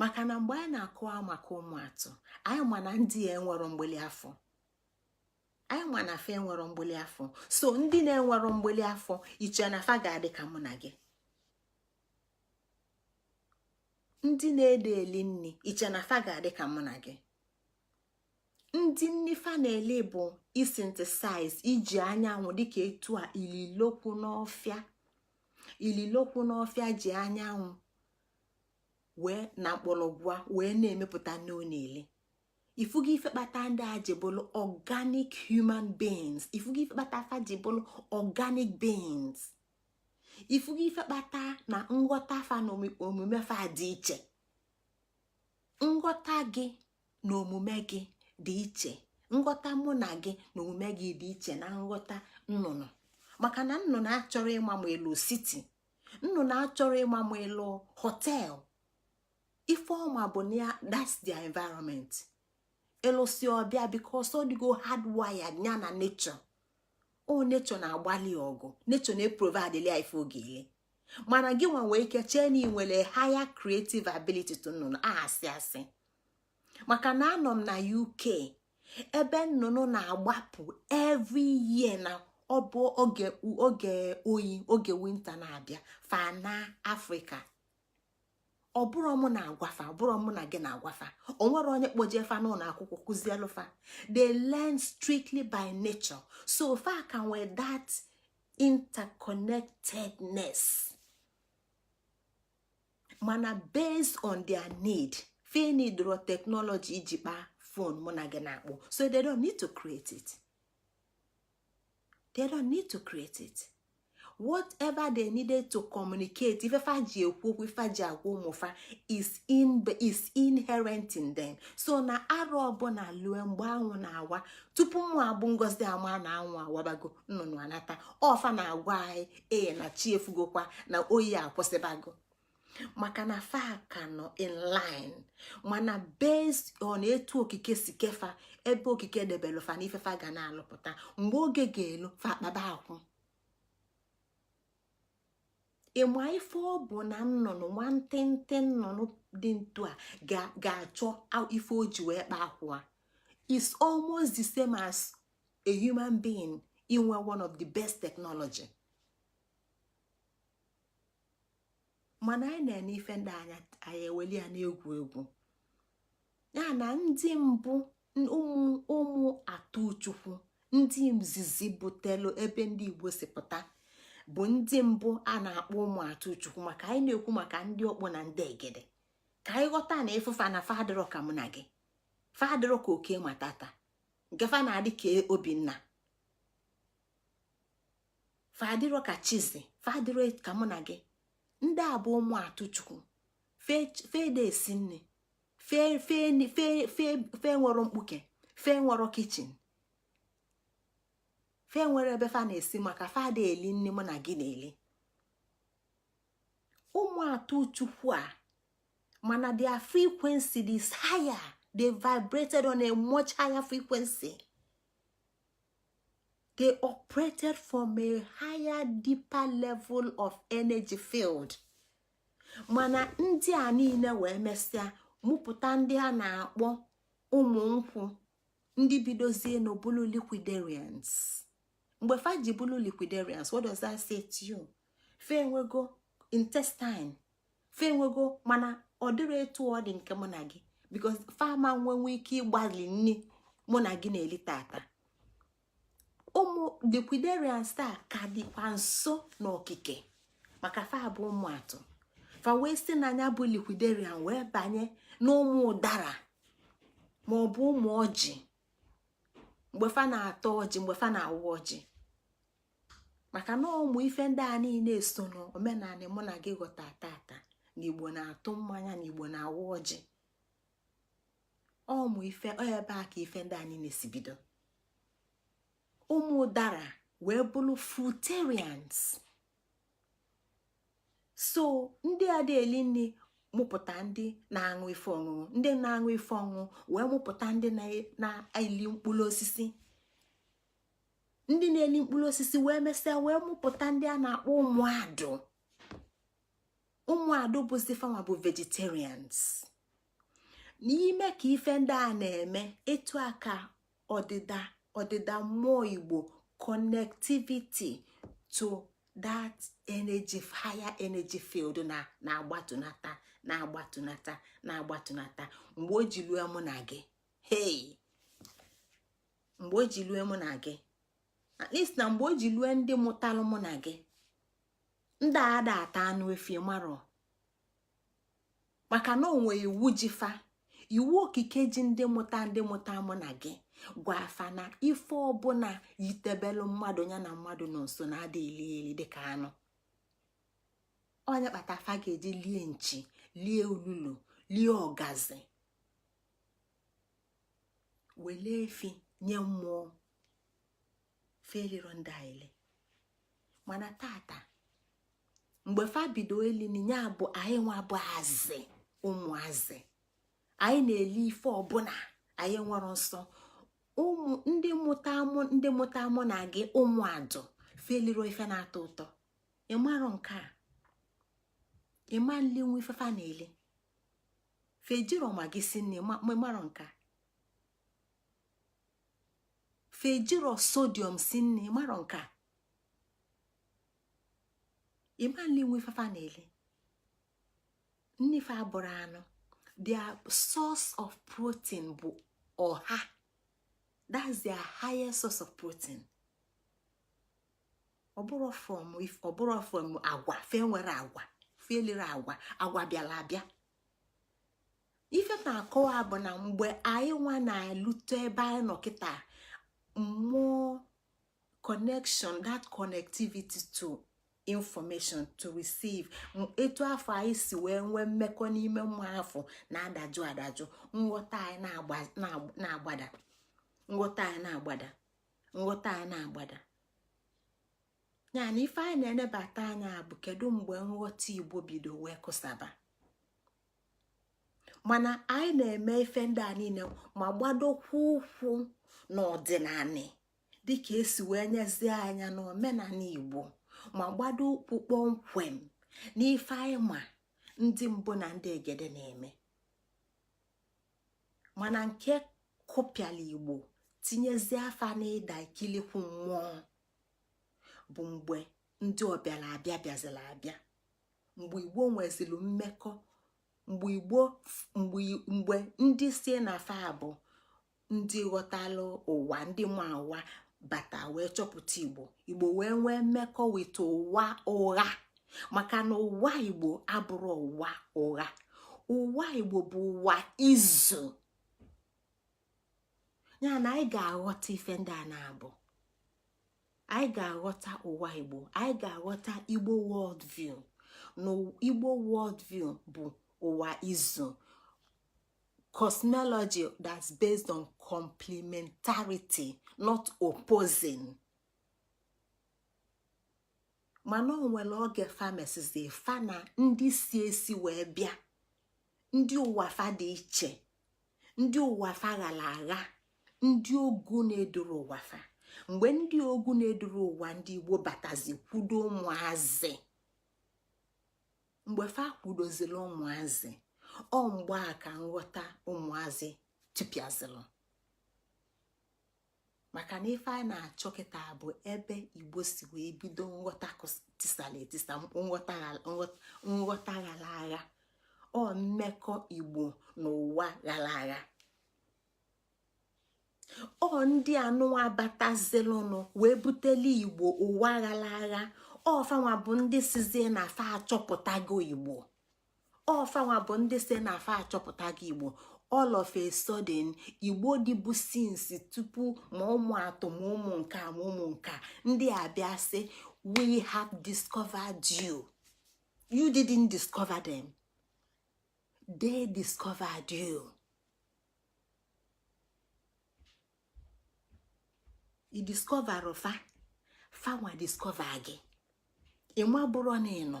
maka na mgbe anyị na-akọwa maka ụmụ atụ anyị ma na ndị a enwerọ mgbili afọ anyị ma na fa enwerọ mgbili afọ so ndị na-enwerọ mgbili afọ i che na fa ga-adị ka mụ na gị ndị na-adị eli nni i che na fa ga-adị ka mụ na gị ndị nni fa na-eli bụ ị synthesize iji anyanwụ dịka etu a ililokwu n'ọfịa ililokwu n'ọfịa ji anyanwụ wee na mkpọlọgwụ wee na-emepụta nni ọ na-eli ị fụgo ife kpata ndị a ji bụlụ organic human beings ị fụgo ife kpata fa ji bụlụ organic beings ị fụgo ife kpata na nghọta fa na omume fa dị iche nghọta gị na omume gị dị iche nghọta mụ na gị na omume gị dị iche na nghọta nnụnụ maka na nnụnụ achọrọ ịma ma ị lụ city nnụnụ achọrọ ịma ma ị lụ hotel ife ọ ma bụ na that's the environment ị lụsịa ọ bịa because ọ dịgo hardwired ya na nature o nature na-agbalị ọgụ nature na-eprovidelụ ya ife ọ ga-eli mana gị nwa nwee ike chee na ị nwere higher creative ability to nnụnụ asị asị maka na anọ m na uk ebe nnụnụ na-agbapụ every year na ọ bụ oge oge oyi oge winter na-abịa fa naa afrịka ọ bụrọ mụ na-agwa fa ọ bụrọ mụ na gị na-agwa fa o nwerọ onye kpọje fa n'ụnọ akwụkwọ kuzielu fa they learn strictly by nature so fa ka nwee that interconnectedness mana based on their need fe needrọ teknọlọji iji kpaa fon mụ na gị na-akpọ so they don't need to create it whatever they needed to communicate ife fa ji ekwu okwu ife fa ji agwa ụmụ fa is in is inherent in them so na arụ ọbụla lue mgbe anwụ na-awa tupu mụ abụ ngozi ama na anwụ awabago nnụnụ anata ọ fa na-agwa anyị ee na chi efogokwa na oyi akwụsịbago maka na fa ka nọ in line mana based on etu okike si kee fa ebe okike debelụ fa na ife fa ga na-alụpụta mgbe oge ga-elu fa akpaba akwụ ị ma ife ọ bụ na nnụnụ nwa ntịntị nnụnụ dị ntu a ga-achọ ife o ji wee kpa akwụ a is almost the same as a human being inwe one of the best technology mana anyị na-ene ife ndị a anyị eweli ya n'egwu egwu ya na ndị mbụ ụmụ ụmụ atụ chukwu ndị izizi butelu ebe ndị igbo si pụta bụ ndị mbụ a na-akpọ ụmụ atụ chukwu maka anyị na-ekwu maka ndị ọkpụ na ndị egede ka anyị ghọta na ị fụ fa na fa adịrọ ka mụ na gị fa adịrọ ka oke matata nke fa na-adị ka obinna fa adịrọ ka chizi fa adịrọ ka mụ na gị ndị a bụ ụmụ atụ chukwu fa ada esi nni fa enwerọ mkpuke fa enwerọ kitchen fa enwerọ ebe fa na-esi maka fa ada eli nni mụ na gị na-eli ụmụ atụ chukwu a mana their frequency is higher they vibrated on a much higher frequency they operated from a higher deeper level of energy field mana ndị a niile wee mesịa mụpụta ndị a na-akpọ ụmụ nkwụ ndị bidozie n'obulu liquidarians mgbe fa ji bụlụ liquidarians what does that say to you fe enwego intestine fa enwego mana ọ dịrọ etu ọ dị nke mụ na gị because fa ama nwenwu ike ịgbali nni mụ na gị na-eli tata ụmụ liquidarians a ka dịkwa nso n'okike maka fa bụ ụmụ atụ fa wee si na nya bụ liquidarian wee banye n'ụmụ ụdara ma ọ bụ ụmụ ọjị mgbe fa na-ata ọjị mgbe fa na-awa ọjị maka na ụmụ ife ndị a niile so n'omenala mụ na gị ghọta tata na igbo na-atụ mmanya na igbo na-agọ ọjị ọ bụ ebe a ka ife ndị a niile si bido ụmụ dara wee bụrụ fruitarians so ndị adị eli nni mụpụta ndị na-aṅụ ife ọṅụṅụ ndị na-aṅụ ife ọṅụṅụ wee mụpụta ndị na-eli mkpụrụ osisi ndị na-eli mkpụrụ osisi wee mesịa wee mụpụta ndị a na-akpọ ụmụ adụ ụmụ adụ bụzi fanwa bụ vegetarians n'ime ka ife ndị a na-eme etu a ka ọdịda ọdịda mmụọ igbo connectivity to that energy higher energy field na-agbatunata na-agbatunata na-agbatunata mgbe o ji lue mụ na gị hey mgbe o ji lue mụ na gị at least na mgbe o ji lue ndị mụtalụ mụ na gị ndị ada ata anụ efi marọ maka na o nwe iwu ji fa iwu okike ji ndị mụta ndị mụta mụ na gị gwa fa na ife ọbụla yitebelụ mmadụ ya na mmadụ nọ nso na adị eli eli dịka anụ ọ nya kpata fa ga-eji lie nchi lie olulu lie ọgazi wele efi nye mmụọ fa eliro ndị a eli mana tata mgbe fa bido eli nni nya bụ anyị nwa bụ azị ụmụ azị anyị na-eli ife ọbụla anyị enwerọ nsọ ụmụ ndị mụta mụ ndị mụta mụ na gị ụmụ adụ fa eliro ife na-atọ ụtọ ị marọ nke a ị ma nli nwe ife fa na-eli fa ejiro maggi si nni ị marọ nke a fa ejiro sodium si nni ị marọ nke a ị ma nli nwe ife fa na-eli nni fa abụrọ anụ their source of protein bụ ọha that's their highest source of protein ọ bụrọ from ọ bụrọ from agwa fa enwerọ agwa fa eliro agwa agwa bịara abịa ife na-akọwa bụ na mgbe anyị nwa na-elute ebe anyị nọ kịta mmụọ connection that connectivity to information to receive etu afụ anyị si wee nwee mmekọ n'ime mmụọ afụ na-adajụ adajụ nghọta anyị na-agbada nghọta anyị na-agbada nghọta anyị na-agbada ya na ife anyị na-enebata anya bụ kedu mgbe nghọta igbo bido wee kụsaba mana anyị na-eme ife ndị a niine ma gbadokwa ụkwụ n'ọdịnanị dịka e si wee nyezie anya n'omenanị igbo ma gbado ụkwụ kpọmkwem n'ife anyị ma ndị mbụ na ndị egede na-eme mana nke kụpịalụ igbo tinyezie fa na ịda ikilikwu mmụọ bụ mgbe ndị ọbịara abịa bịazịlụ abịa mgbe igbo nweziri mmekọ mgbe igbo mgbe ndị sị na fa bụ ndị ghọtalụ ụwa ndị ma ụwa bata wee chọpụta igbo igbo wee nwee mmekọ with ụwa ụgha maka na ụwa igbo abụrọ ụwa ụgha ụwa igbo bụ ụwa izu ya na anyị ga-aghọta ife ndị a na-abụ anyị ga-aghọta ụwa igbo anyị ga-aghọta igbo world view na igbo world view bụ ụwa izu cosmology that's based on complementarity not opposing mana o nwere oge fa mesịzị fa na ndị si esi wee bịa ndị ụwa fa dị iche ndị ụwa fa ghara agha ndị ogu na-edurọ ụwa fa mgbe ndị ogu na-edurọ ụwa ndị igbo batazị kwudo ụmụazị mgbe fa kwudozilu ụmụazị ọ mgbe a ka nghọta ụmụazị tụpịazịlụ maka na ife anyị na-achọ kịta bụ ebe igbo si wee bido nghọta tisalụ etisa nghọta ghara agha ọ mmekọ igbo na ụwa ghara agha ọ ndị anụwa batazịlụnụ wee butelu igbo ụwa ghara agha ọ fanwa bụ ndị sịzị na fa achọpụtago igbo ọ fanwa bụ ndị sị na fa achọpụtago igbo all of a sudden igbo dịbu since tupu ma ụmụ atọ ma ụmụ nka ma ụmụ nka ndị a bịa sị we have discovered you you didn't discover them they discovered you. ị discoverrọ fa fanwa discover gị ị maburọ na ị nọ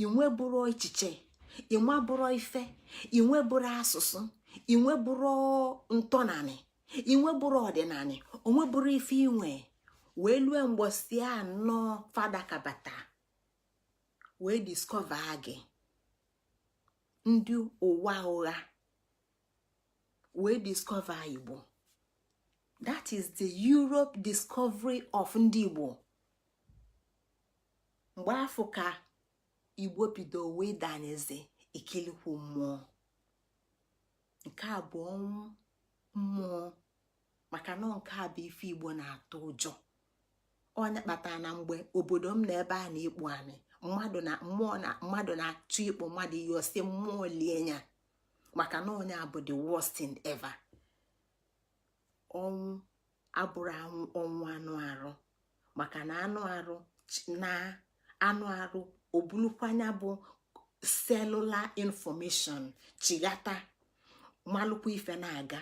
i nweburọ echiche i nweburọ ife i nweburọ asụsụ i nweburọ ntọnanị i nweburọ ọdịnanị i nweburọ ife i nwe wee lue mbọsị anọ fa dakabata wee discover gị ndị ụwa ụgha wee discover igbo that is the europe discovery of ndị igbo mgbe afụ ka igbo bido wee danyezi ikilikwu mmụọ nke a bụ ọnwụ mmụọ maka na nke a bụ ife igbo na-atụ ụjọ ọ nya kpata na mgbe obodo m na ebe a na-ekpu anị mmadụ na mmụọ na mmadụ na-achọ ịkpọ mmadụ iyi ọ sị mmụọ lie ya maka na ọ nya bụ the worst thing ever ọnwụ abụrọ ọnwụ anụ arụ maka na anụ arụ na anụ arụ o bulukwa nya bụ cellular information chighata malụkwa ife na-aga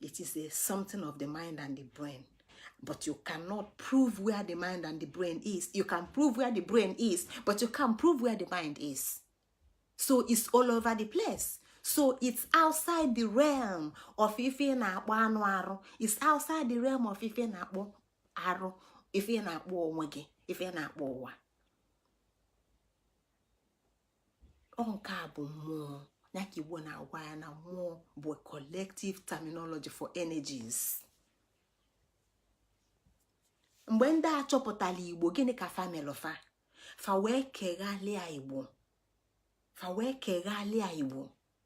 it is a something of the mind and the brain but you cannot prove where the mind and the brain is you can prove where the brain is but you can't prove where the mind is so it's all over the place so it's outside the realm of ife na-akpọ anụ arụ it's outside the realm of ife na-akpọ arụ ife na-akpọ onwe gị ife na-akpọ ụwa ọ nke a bụ mmụọ ya ka igbo na-agwa ya na mmụọ bụ collective terminology for energies mgbe ndị a chọpụtalụ igbo gịnị ka fa melụ fa fa wee keghalịa igbo fa wee keghalịa igbo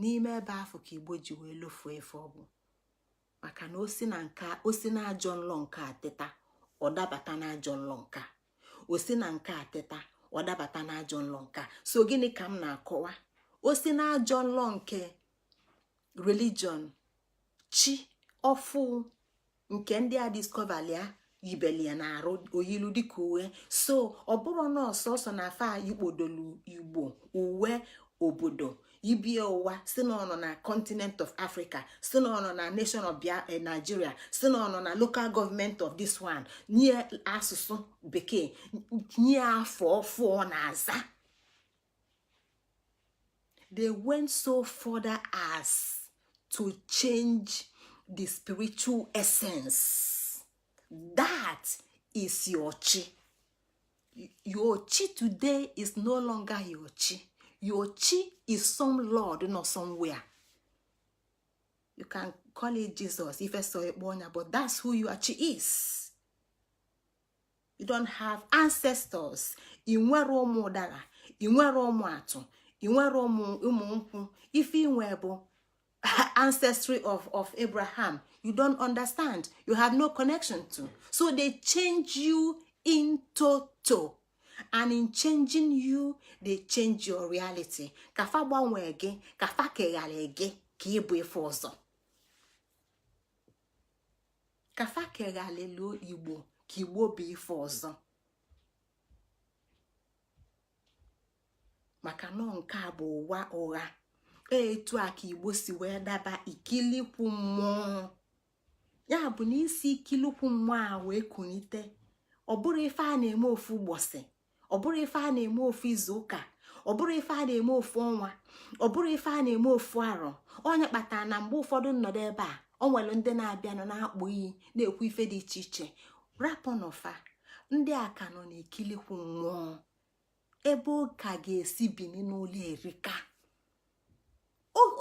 n'ime ebe afụ ka igbo ji wee lofuo efu ọ bụ maka na o si na nka o si na ajọ nlọ nke a teta ọ dabata na ajọ nlọ nka o si na nke a teta ọ dabata na ajọ nlọ nka so gịnị ka m na-akọwa o si na ajọ nlọ nke religion chi ọfụụ nke ndị a discoverlụ ya yibelu ya na arụ o yilu dịka uwe so ọ bụrọ na ọ sọsọ na afa e kpodolu igbo o wee obodo i bi o wee sị na ọ nọ na continent of africa sị na ọ nọ na nation of eh, nigeria sị na ọ nọ na local government of this one nye asụsụ bekee nye afa ọfụụ ọ na-aza they went so further as to change the spiritual essence that is your chi your chi today is no longer your chi your chi is some lord nọ somewhere you can call it jesus ife so ekpo onya but that's who your chi is you don't have ancestors ị nwerọ ụmụ ụdala ị nwerọ ụmụ atụ ị nwerọ ụmụ ụmụ nkwụ ife i nwe bụ ancestry of of abraham you don't understand you have no connection to so they change you in toto and in changing you they change your reality ka fa gbanwee gị ka fa kegharị gị ka ị bụ ife ọzọ ka fa keghalịlụ igbo ka igbo bụ ife ọzọ maka na ọ nke a bụ ụwa ụgha e, etu a ka igbo si wee daba ikilikwu mmụọ ya bụ na isi ikilikwu mmụọ a wee kunite ọ bụrọ ife a na-eme ofu ụbọchị ọ bụrụ ife a na-eme ofu izu ụka ọ bụrụ ife a na-eme ofu ọnwa ọ bụrụ ife a na-eme ofu arọ ọ ya kpatara na mgbe ụfọdụ m nọdụ ebe a ọ nwere ndị na-abịanụ na-akpọ iyi na-ekwu ife dị iche iche rapụnụ fa ndị a ka nọ na-ekilikwu mmụọ ebe ọ ka ga-esi bini n'ụla erika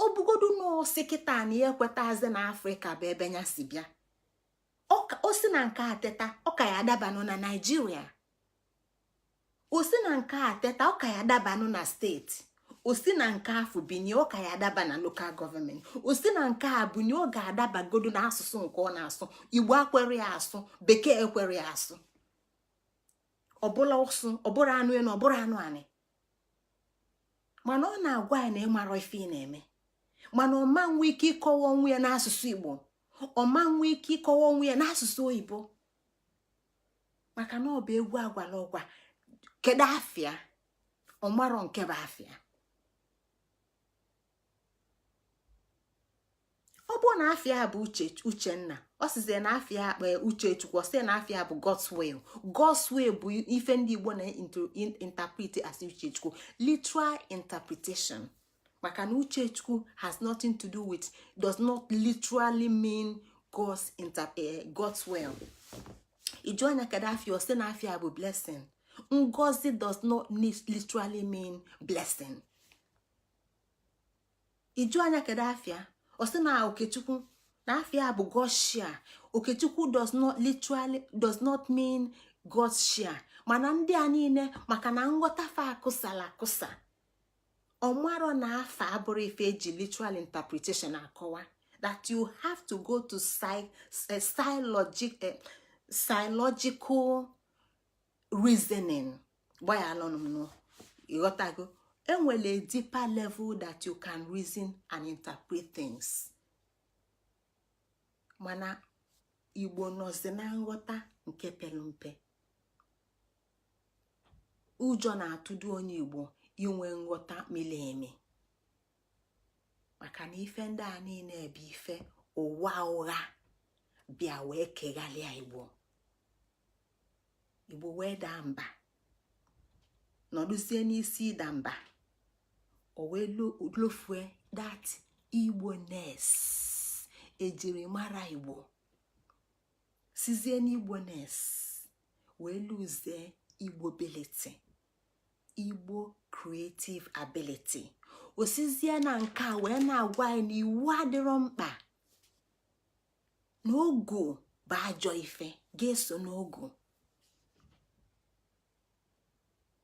ọ bụgodu na ọ sị kịta na ya ekwetazi na afrịka bụ ebe ya si bịa o si na nke a teta ọ ka ya-adabanụ na naijiria o si na nke a teta ọ ka ya-adabanụ na state o si na nke afụ binie ọ ka ya-adaba na local government o si na nke a binie ọ ga-adabagodo na asụsụ nke ọ na-asụ igbo ekwerọ ya asụ bekee ekwerọ ya asụ ọ bụlụ ụsụ ọ bụrọ anụ elu ọ bụrọ anụ anị mana ọ na-agwa ya na ị mara ife ị na-eme mana ọ ma nwe ike ịkọwa onwe ya n'asụsụ igbo ọ ma nwe ike ịkọwa onwe ya n'asụsụ oyibo maka na ọ bụ egwu agwala ọgwa kedu afa ya ọ marọ nke bụ afa ya ọ bụrụ na afa ya bụ uche uchenna ọ sịzie na afa ya akpa e, uche chukwu ọ sị na afa ya bụ God's will God's will bụ ife ndị Igbo na-interpret as uche chukwu literal interpretation maka na uche chukwu has nothing to do with does not literally mean God's, inter, uh, God's will ị jụa ya kedu afa ya ọ sị na afa ya bụ blessing ngozi does not literally mean blessing ị jụa ya kedu afa ya ọ sị na okechukwu na afa ya bụ God's share okechukwu does not literally does not mean God's share mana ndị a niile maka na nghọta fa akụsala akụsa ọ marọ na afa abụrọ ife e ji literal interpretation akọwa that you have to go to psychological eh, reasoning gbayalụnụ m ị ghọtago e nwere a deeper level that you can reason and interpret things mana igbo nọzi na nghọta nke pere mpe ụjọ na-atụdo onye igbo inwe nghọta miri emi maka na ife ndị a niile ebe ife ụwa ụgha bịa wee kegharịa igbo igbo wee daa mba nọdụzie n'isi ịda mba o wee lofue that igboness e jiri mara igbo sịzie na igboness wee lụzie igbo ability igbo creative ability osizie na nke a wee na-agwa anyị na iwu adịrọ mkpa n'ọgwụ bụ ajọ ife ga-eso n'ọgwụ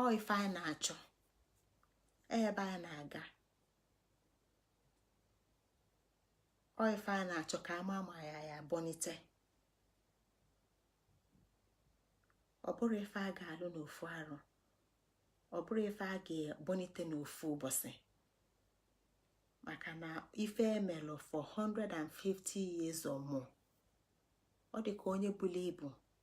ọ ife anyị na-achọ ebe anyị na-aga ọ ife anyị na-achọ ka ama ama ya ya bọnite ọ bụrọ ife a ga-alụ n'ofu arọ ọ bụrọ ife a ga-ebọnite n'ofu ụbọsị maka na ife emelụ for 150 years or more ọ dị ka onye bulu ibu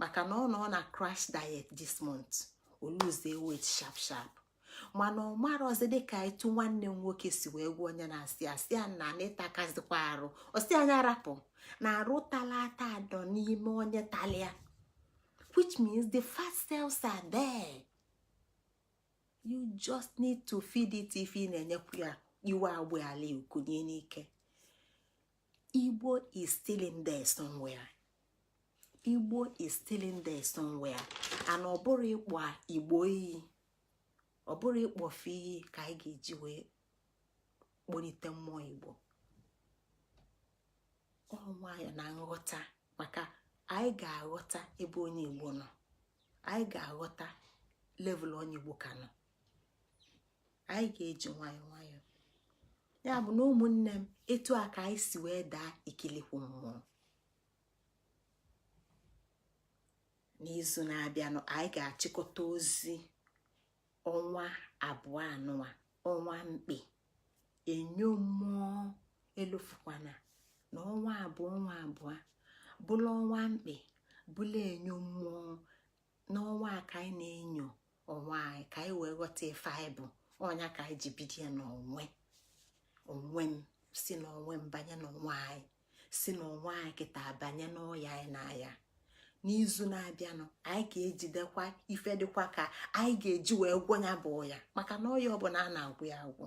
maka na ọ nọ na crash diet this month o luzie weight sharp sharp mana ọ marọzi dịka etu nwanne m nwoke si wee gwa onye na-asị asị a na n'ịtakazikwa arụ ọ sị a nya rapụ na arụ tala ata adọ n'ime onye talia which means the fat cells are there you just need to feed it if ị na-enyekwu ya iwe agba ala ukunye n'ike igbo is still in there somewhere igbo is still in there somewhere and ọ bụrọ ịkpọ igbo iyi ọ bụrọ ịkpọ fa iyi ka anyị ga-eji wee kpọnite mmụọ igbo ọ nwayọ na nghọta maka anyị ga-aghọta ebe onye igbo nọ anyị ga-aghọta level onye igbo ka nọ anyị ga-eji nwayọọ nwayọọ ya bụ na ụmụnne m etu a ka anyị si wee daa ikilikwu mmụọ n'izu na-abịanụ anyị ga-achịkọta ozi ọnwa abụọ a nụwa ọnwa mkpe enyo mmụọ elofukwana na ọnwa abụọ ọnwa abụọ bụla ọnwa mkpe bụla enyo mmụọ n'ọnwa a ka anyị na-enyo onwe anyị ka anyị wee ghọta ife anyị bụ ọ ya ka anyị ji bido ya n'onwe onwe m si n'onwe m banye n'onwe anyị si n'onwe anyị kịta banye n'ọya anyị na-aya n'izu na-abịanụ anyị ga-ejidekwa ife dịkwa ka anyị ga-eji wee gwọ ya bụ ọya maka na ọya ọbụla a na-agwọ ya agwọ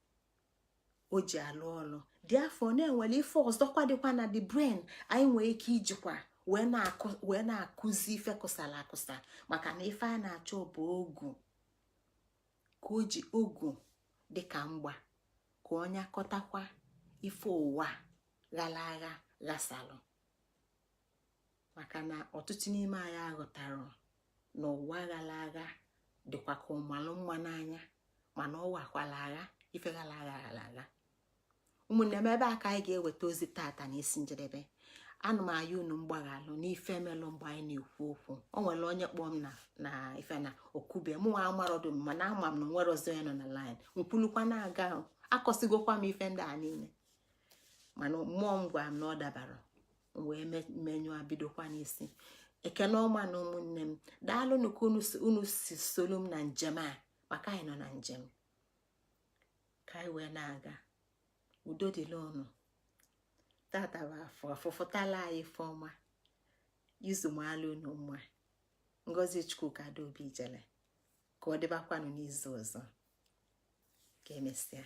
o ji alụ ọlụ dị afọ na-enwere ife ọzọkwa dịkwa na the brain anyị nwee ike ijikwa wee na-akụzi ife kụsala akụsa maka na ife a na-achọ bụ ọgwụ ka o ji ọgwụ dịka mgba ka ọ nyakọtakwa ife ụwa ghara agha ghasalụ maka na ọtụtụ n'ime anyị aghọtarọ na ụwa ghara agha dịkwa ka ọ malụ mma n'anya mana ọ wakwala agha ife ghara agha ghara agha ụmụnne m ebe a ka anyị ga-eweta ozi tata na isi njedebe ana m ayọ unu mgbaghalụ n'ife melụ mgbe anyị na-ekwu okwu o nwere onye kpọọ m na ife na okube mụ nwa amarọdụ m mana ama m na nwere ọzọ ya nọ na laịn m kwulukwa na-aga akọsigokwa m ife ndị a niile mana mmụọ m gwara m na ọ dabarọ wee menyụọ bidokwa n'isi ekene ọma na ụmụnne m daalụnụ ka unu si solu m na njem a maka anyị nọ na njem ka anyị wee na-aga udo dịlị unu tata bụ afọ afọ fọtala anyị ife ọma izu maalụ unu mma ngozi chukwuka adaobi ijele ka ọ dịbakwanụ n'izu ọzọ ka emesịa